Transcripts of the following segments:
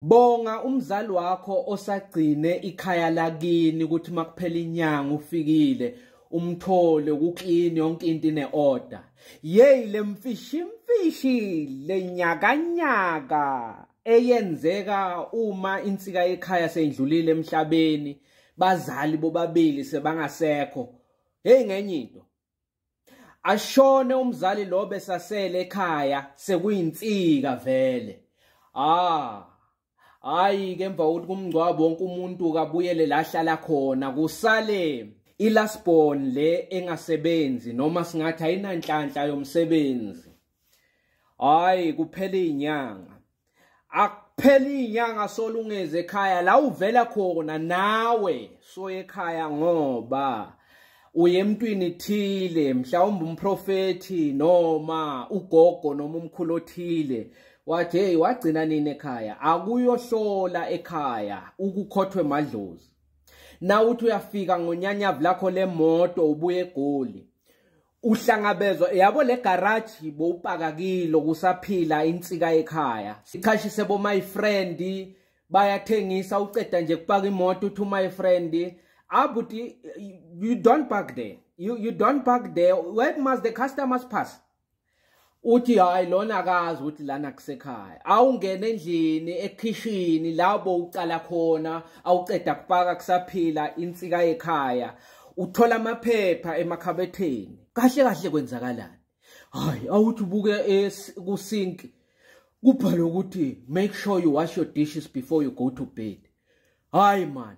Bonga umzali wakho osagcine ikhaya lakini ukuthi makuphela inyanga ufikile umthole ukuklini yonke into ine order yeyi lemfishi imfishi lenyakanyaka eyenzeka uma insika ekhaya seyindlulile emhlabeni bazali bobabili sebangasekho hey ngenye into ashone umzali lo besasele ekhaya sekuyinsika vele ah hayi ke emva kokuthi kumngcwabo wonke umuntu kabuyele la hlala khona kusale ilasbon le engasebenzi noma singathi ayinanhlanhla yomsebenzi hayi kuphela inyanga akuphela inyanga solungeze ekhaya la uvela khona nawe soye ekhaya ngoba uye emntwini thile mhlawumbe umprofethi noma ugogo noma umkhulu othile wathi hey wagcina nini ekhaya akuyohlola ekhaya ukukhothwe madlozi na uthi uyafika ngonyanyavu lakho lemoto ubuye egoli uhlangabezwa yabo le garage bowupakakile kusaphila insika ekhaya sichashise bo my friend bayathengisa uceda nje kupaka imoto uthi my friend abuti ah, you don't park there you, you don't park there where must the customers pass uthi hayi lona akazi ukuthi lana kusekhaya awungena endlini ekhishini labo uqala khona awuceda kupaka kusaphila insika yekhaya uthola amaphepha emakhabetheni kahle kahle kwenzakalani hayi awuthi ubuke kusink kubhalwe ukuthi make sure you wash your dishes before you go to bed hayi mani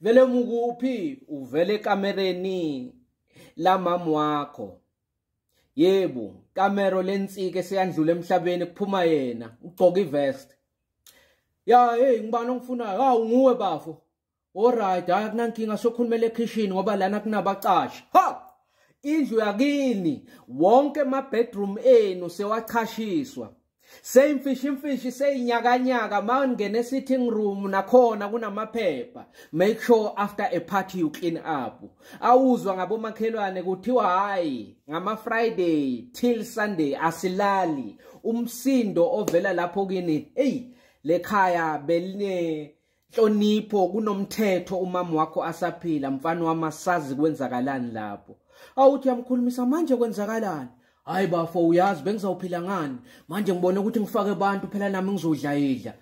vele mukuphi uvele kamereni la mama wakho yebo kamero lensike seyandlula emhlabeni kuphuma yena ugcoka ivest ya hey ngibani ongifunayo ha unguwe bafo alright hayi kunankinga sokhulumela ekhishini ngoba lana kunabacashi ha indlu yakini wonke ama bedroom enu sewachashiswa seyimfishi imfishi seyinyakanyaka ma ngene esitting room nakhona kunamaphepha make sure after a party you clean up awuzwa ngabomakhelwane kuthiwa hayi ngama-friday till sunday asilali umsindo ovela lapho kini eyi lekhaya beline Nhlonipho kunomthetho umama wakho asaphila mfana wama sazi kwenzakalani lapho. Awuthi yamkhulumisa manje kwenzakalani? Hayi bafo uyazi bengizawuphila ngani? Manje ngibona ukuthi ngifake abantu phela nami ngizodla idla.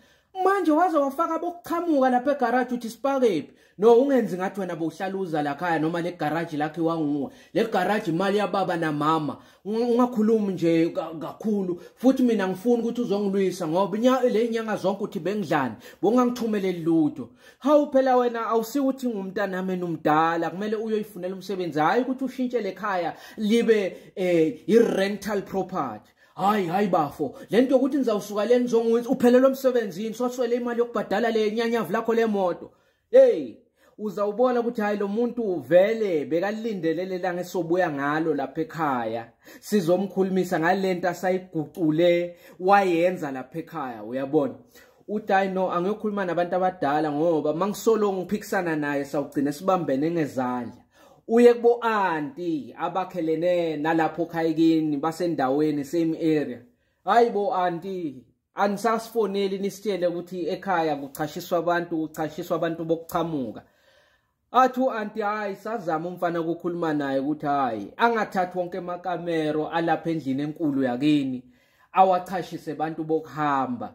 Manje waze wafaka bokuchamuka lapha egarage uthi sipakephi? No ungenzi ngathi wena bowuhlaluza la khaya noma le garage lakhe wanguwe. Le garage imali yababa na mama. ungakhulumi nje kakhulu futhi mina ngifuna ukuthi uzongilwisa ngoba le nyanga zonke uthi bengidlani bongangithumeleli lutho hawu phela wena awusiwo ukuthi ngumntanami nomdala kumele uyoyifunela umsebenzi hhayi ukuthi ushintshe le khaya libe um i-rental property hayi hayi bafo le nto yokuthi nizawusuka le nizonguthi uphelelwe emsebenzini swaswele imali yokubhadala le nyanyavu lakho le moto Hey, uzawubona ukuthi hayi lo muntu vele bekalindele lelanga esobuya ngalo lapha ekhaya sizomkhulumisa ngalento asayigucule wayenza lapha ekhaya uyabona uthi hayi no angiyokhuluma nabantu abadala ngoba uma ngisolo ngiphikisana naye sawugcina sibambene ngezandla uye kubo anti abakhelene nalapho khayikini basendaweni same area hayi bo anti anisasifoneli nisitshele ukuthi ekhaya kuchashiswa abantu kuchashiswa abantu bokuchamuka athi u-anti hhayi sazama umfana ukukhuluma naye ukuthi hhayi angathathi wonke amakamero alapha endlini enkulu yakini awachashise abantu bokuhamba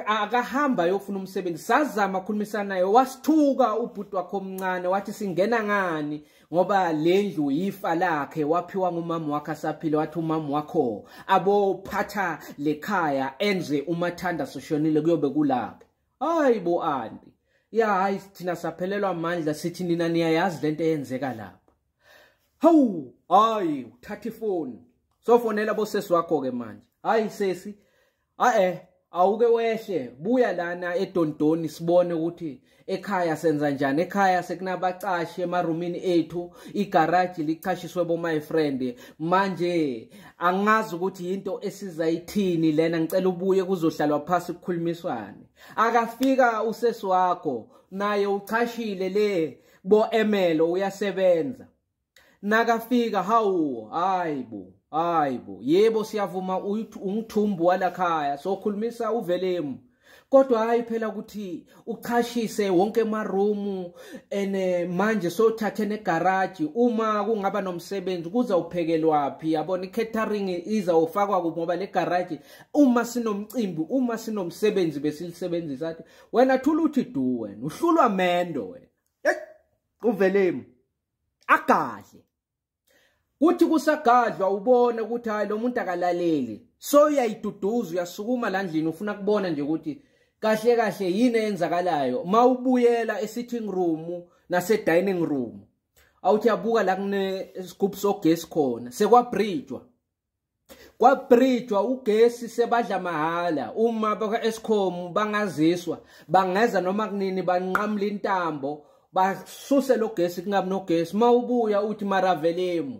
akahamba ayofuna umsebenzi sazama khulumisana naye wasithuka ubhuti wakhe omncane wathi singena ngani ngoba le ndlu yifa lakhe waphiwa ngumama wakhe asaphile wathi umama wakho abophatha le khaya enze umathanda soshonile kuyobe kulaphi hayi bo anti ya hayi thina saphelelwa amandla sithi nina niyayazi lento eyenzeka lapha hawu hayi uthatha ifoni sofonela bosesi wakho ke manje hayi sesi ae awuke wehle buya lana edondoni sibone ukuthi ekhaya senza njani ekhaya sekunabacashi emarumini ethu igaraji lichashiswe bo-my friend manje angazi ukuthi yinto esizayithini lena ngicela ubuye kuzohlalwa phasi kukhulumiswane akafika usesi wakho naye uchashile le bo-emelo uyasebenza nakafika hawu hayi bo hayi bo yebo siyavuma ungithumbu walakhaya sokhulumisa uvelemu kodwa hayi phela ukuthi uchashise wonke amarumu ene manje sothathe negaraji uma kungaba nomsebenzi kuza uphekelwaphi yabona i-catering iza ufakwa kuphi ngoba le garaji uma sinomcimbi uma sinomsebenzi besilisebenzisa athi wena thula uthi du wena uhlulwa mendo wena uvelemu agadle kuthi kusagadlwa ubona ukuthi hayi lo muntu akalaleli so uyayiduduza uyasukuma la ndlini ufuna kubona nje ukuthi kahle kahle yini eyenzakalayo mawubuyela esitting room nase dining room awuthi yabuka la kune scoop sogesi khona sekwabridgwa kwabridgwa ugesi sebadla mahhala uma bakwa-escom bangaziswa bangeza noma kunini banqamula intambo basuse lo gesi kungabi nogesi uma ubuya uthi maravelemu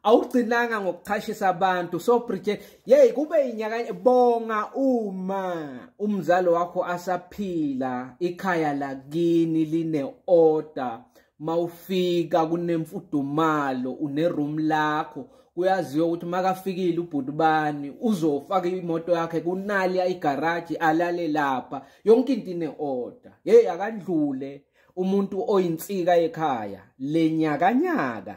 awugcinanga ngokuchashisa abantu so bridget yeyi kube yinyaka bonga uma umzali wakho asaphila ikhaya lakini line-order mawufika kunemfudumalo uneroom lakho kuyaziwa ukuthi makafikile ubhuti bani uzofaka imoto yakhe kunali igaraji alale lapha yonke into ine order hey akandlule umuntu oyinsika ekhaya lenyakanyaka